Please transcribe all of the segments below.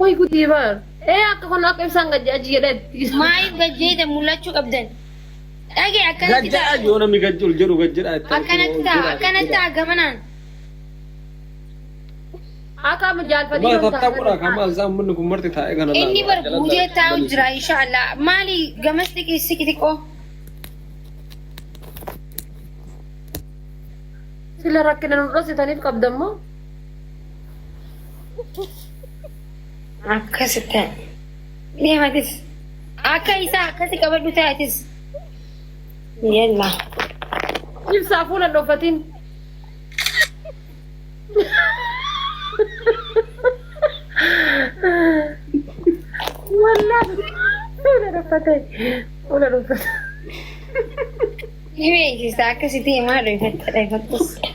Way gudii bar. Ee akka kun akka ibsaan gajja aji jedhe. Maaliif gajjeeda mul'achuu qabdan? Dhage akkanatti Gajjadha ta'a. yoo namni gajji ol jedhu gajjadha itti Akkanatti ta'a. Akkanatti ta'a gamanaan. Akka amma jaalfadii Maal yoo tattaqudha taa'an. kan maal isaa uummanni kun marti taa'ee kana laala. Inni bar guutee taa'u jira inshaallah. Maali gamas xiqii siqi xiqqoo. Sila rakkina nu dhoksitaniif qabdammoo. Akkasi ta'e. Deematis. Akka isaa akkasi qabadhu ta'atis. Yalla. Ibsaa fuula dhokkatiin. Wallaa fuula dhokkatee. Fuula dhokkatee. Ni beeksisa akkasitti himaa dhufetti dhufetti.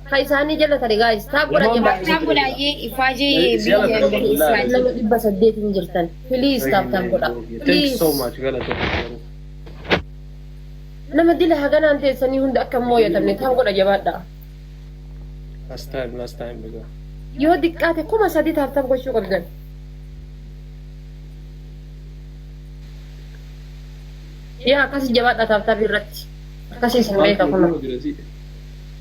Ka isaanii jallatani guys. Taag godha Imam jabaa. Baaktaan bulaayee ifaajee Siya biyya lataan Isin Abdullahi Abdullahi. Israajiin. nama dhibba saddeet hin jirtan. Please taap taap godha. Thank you so Please. much galatoo garuu. Nama dila haganaan teessanii hunda akka hin mooyatamne taap godha jabaadha. Last time last time dhugaa. Yoo diqqaate kuma sadii taap taap gochuu qabdan. Yaa akkasi jabaadha taap taap irratti. Akkasi isin beeka kunoo. Dirasii.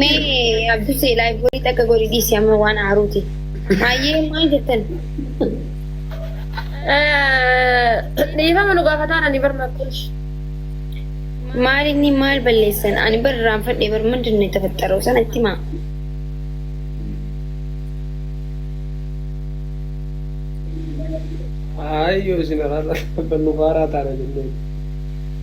Mee abdusee laayiborii takka godhi dhiisi amma waan aaruuti. Maayyee maal jettan? Dhiifama nu gaafataan ani barma kush. Maal inni maal balleessan? Ani bar irraanfadhe bar mandi inni tafaxxaroo sana itti maa? Ayyoo isin irraa nu faaraa taana jennee.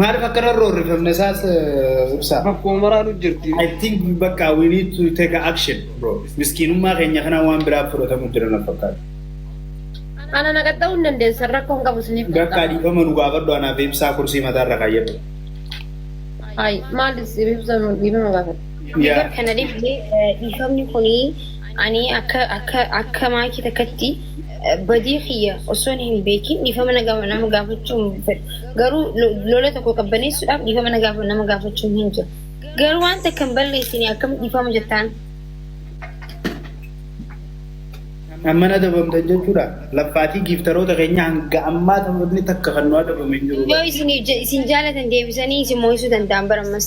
Maaliif akkana irra horrifamne isaas ibsaa. Bakkuma maraanu jirti. I think bakka we need to take a action bro. Miskiinummaa keenya kana waan biraaf fudhatamu jira na fakkaata. Ana na qaxxa'uu hin dandeessan rakkoon qabu isiniif Bakka dhiifama nu gaafadhu anaaf ibsaa kursii mataa irra kaayyadhu. Ay, maalis ibsa dhiifama gaafata. Yaa. Kana dhifti dhiifamni kuni ani akka akka akka maakii takkatti badii kiyya osoon hin beekin dhiifama nama gaafachuu hin fedhu. Garuu lola tokko qabbaneessuudhaaf dhiifama nama gaafachuun hin jiru. Garuu waan takka hin balleessine akkamitti dhiifama jettaan? Amman adabamtan jechuudha. Laphaatii giiftaroota keenya hanga ammaa taphni takka kan nu adabame hin jiru. Yoo isiniif je- isin jaalatan deebisanii isin mo'isuu danda'an bara ammas.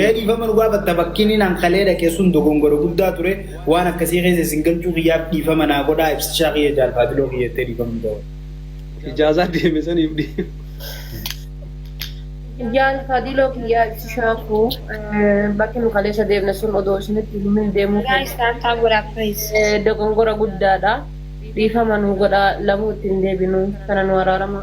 Ee dhiifama nu gaafatta bakkiin inaan kalee dhaqe sun dogongora guddaa ture waan akkasii keessa isin galchuu kiyyaaf dhiifama naa godhaa ibsishaa kiyya jaal faabiloo kiyya jettee dhiifama nu gaafatti. Ijaazaa deeme saniif dhiifama. Jaal Fadiloo kiyyaa ibsishaa koo bakki nu kaleessa deemne sun odoo isinitti hin himin deemuu Guys, keenya tap tap godhaa please. eh, dogongora guddaadha. Dhiifama nu godhaa lamuu itti hin deebinu kana nu araarama.